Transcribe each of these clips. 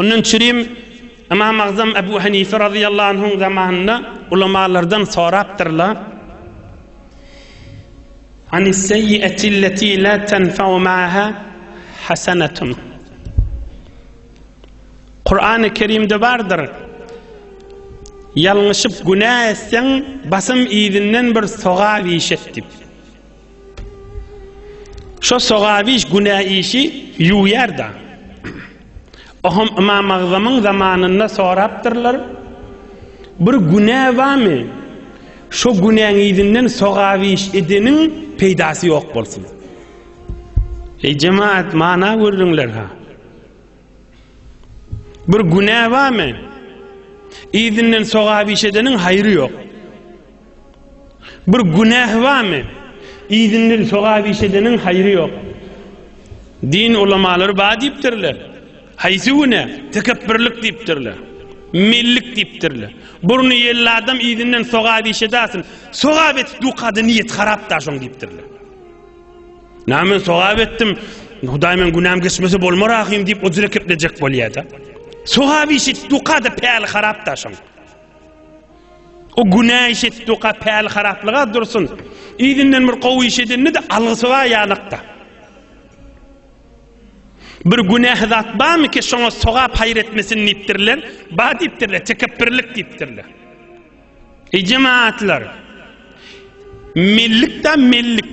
Ondan çürim Ymam Agzam Abu Hanife razyýallahu anhuň zamanynda ulamalardan sorapdyrlar, Anis-seýiati lleti la tenfau ma'aha hasanatun. Kur'an-ı Kerimde bardyr. Ýalňyşyp günä etseň, basym izinden bir sogap iş et diýip. Şo sogawiş günä işi ýuwýar-da. Oham Ymam Agzamyň zamanynda sorapdyrlar, Bir günä bamy, şo günäň yzyndan sogawiş edeniň peýdasy ýok bolsun. Eý jemaat, mana görüňler-hä! Bir günä bamy, yzyndan sogawiş edeniň haýry ýok. Bir günähi barmy? Izinden sogap iş edeniň haýry ýok. Din ulamalary bar diýipdirler. Haýsy günä? Tekepbirlik diýipdirler. Mellik diýipdirler. Burny ýelli adam izinden sogap iş edasin. Sogap etip dukada niýet harap da şoň diýipdirler. Näme men sogap etdim? Hudaý men günäm geçmese bolmar ahym diýip o jüre keplejek bolýar-da. Sogap iş etip dukada päli harap da şoň. O günä iş etdika päl haraplyga dursun. Yzyndan bir gowy iş edende de algysy bar ýalakda. Bir günähi zat barmy ki şoňa sogap haýyr etmesin diýipdirler? Ba diýipdirler, tekepbirlik diýipdirler. Ey jemaatlar! Mellik da mellik.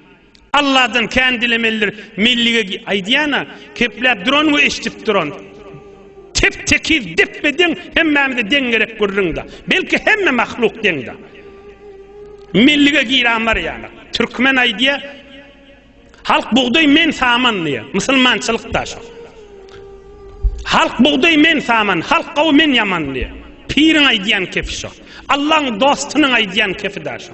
Alladan kän dilemelidir. Mellige aýdýana, kepläp duran we eşidip duran. Tep tekiz depbe deň hemmämize deň gerek gürrüňde. Belki hemme mahluk deňde. Mellige giran bar ýa. Türkmen aýdýa. Halk bugdaý men saman diýe. Musulmançylyk da şo. Halk bugdaý men saman, halk gawy men ýaman diýe. Piriň aýdýan kepi şo. Allaň dostunyň aýdýan kepi da şo.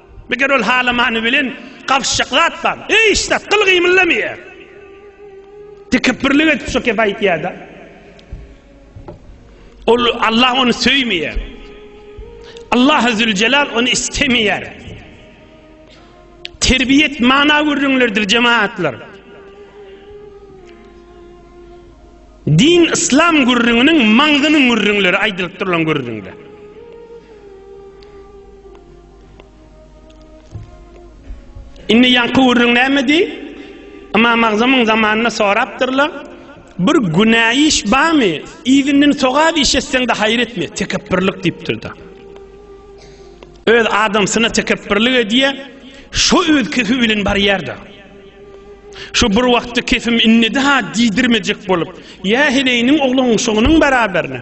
Meger ol halamany bilen gapyşjak zat bar. Hiç zat gyl gymyldamaýar. Tekepbirlik edip şo gep aýtýar-da. Ol Allah ony söýmeýär. Allah Zülcelal ony istemeýär. Terbiýet mana gürrüňlerdir jemaatlar. Din İslam gürrüňiniň maňzynyň gürrüňleri aýdylyp durulan gürrüňler. Indi ýaňky gürrüň nämedi? Ymam Agzamyň zamanynda sorapdyrlar, Bir günä iş barmy? Yzyndan sogap iş etseň-de haýyr etme, tekepbirlik diýipdir-de. Öz adamsyna tekepbirlik edýär, şo öz kefi bilen barýar-da. Şu bir wagtda kefim innedi-ha diýdirmejek bolup, ýa heleýiniň oglunyň şonuň baraberine.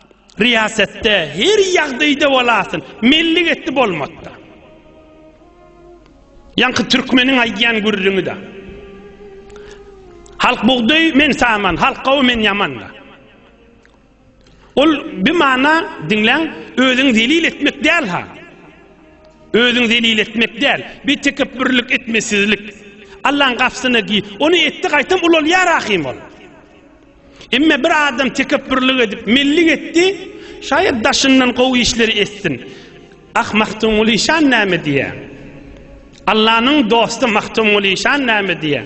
Riýasatda her ýagdaýda bolasyn, melli getdi bolmotda. Ýaňky türkmeniň aýdýan gürrüňi da. Halk bugdaý men saman, halk gawy men ýaman da. Ol bir mana diňläň, özüň zelil etmek däl ha. Özüň zelil etmek däl, bir tekepbürlik etmesizlik. Allaň gapsyna gi, ony etdi gaýtam ulalýar ahym ol. Emme bir adam tekepbürlik edip mellik etdi, şaýat daşyndan gowy işleri etsin. Ah Magtymguly şan näme diýä? Allanyň dosty Magtymguly şan näme diýä?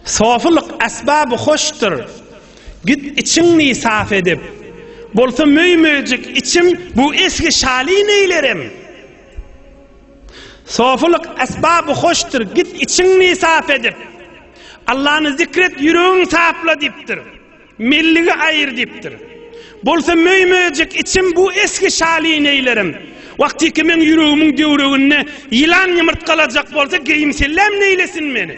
Sofylyk asbaby hoşdur. Git içiňni saf edip. Bolsa möý-möjek içim bu esgi şaly neýlerim? Sofulyk esbaby hoşdyr, git içiňni sap edip, Allany zikr et, ýüregiň sapla diýipdir. Melligi aýyr diýipdir. Bolsa möý-möjek içim bu esgi şaly neýlerim? Wagtyky meň ýüregimiň döwreginde ýylan ýumurtgalajak bolsa, geýim-selläm neýlesin meni?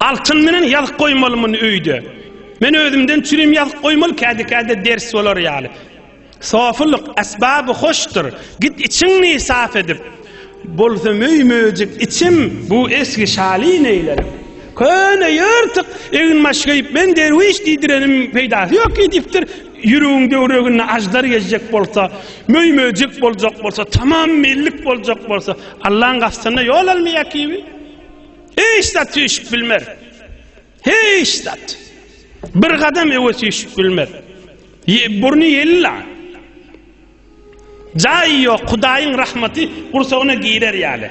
Altyn menen ýazyp goýmaly muny öýde. Men özümden çürim ýazyp goýmaly käde-käde ders bolar ýaly. Sofylyk esbaby hoşdur. Git içiňni sap edip. Bolsa möý möjek içim. Bu esgi şaly neýlerim. Köne ýyrtyk egin-baş geýip men derwiş diýdirenim peýdasy ýok diýipdir. Ýüregiň döwreginde aždar gezjek bolsa, möý möjek boljak bolsa, tamam mellik boljak bolsa, Allaň gastynda ýol almaýar kibi. Hiç zat süýşüp bilmer. Hiç zat. Bir gadam öwe süýşüp bilmer. Burny ýella. Jaýy ýok, Hudaýyň rahmaty gursagyna girer ýaly.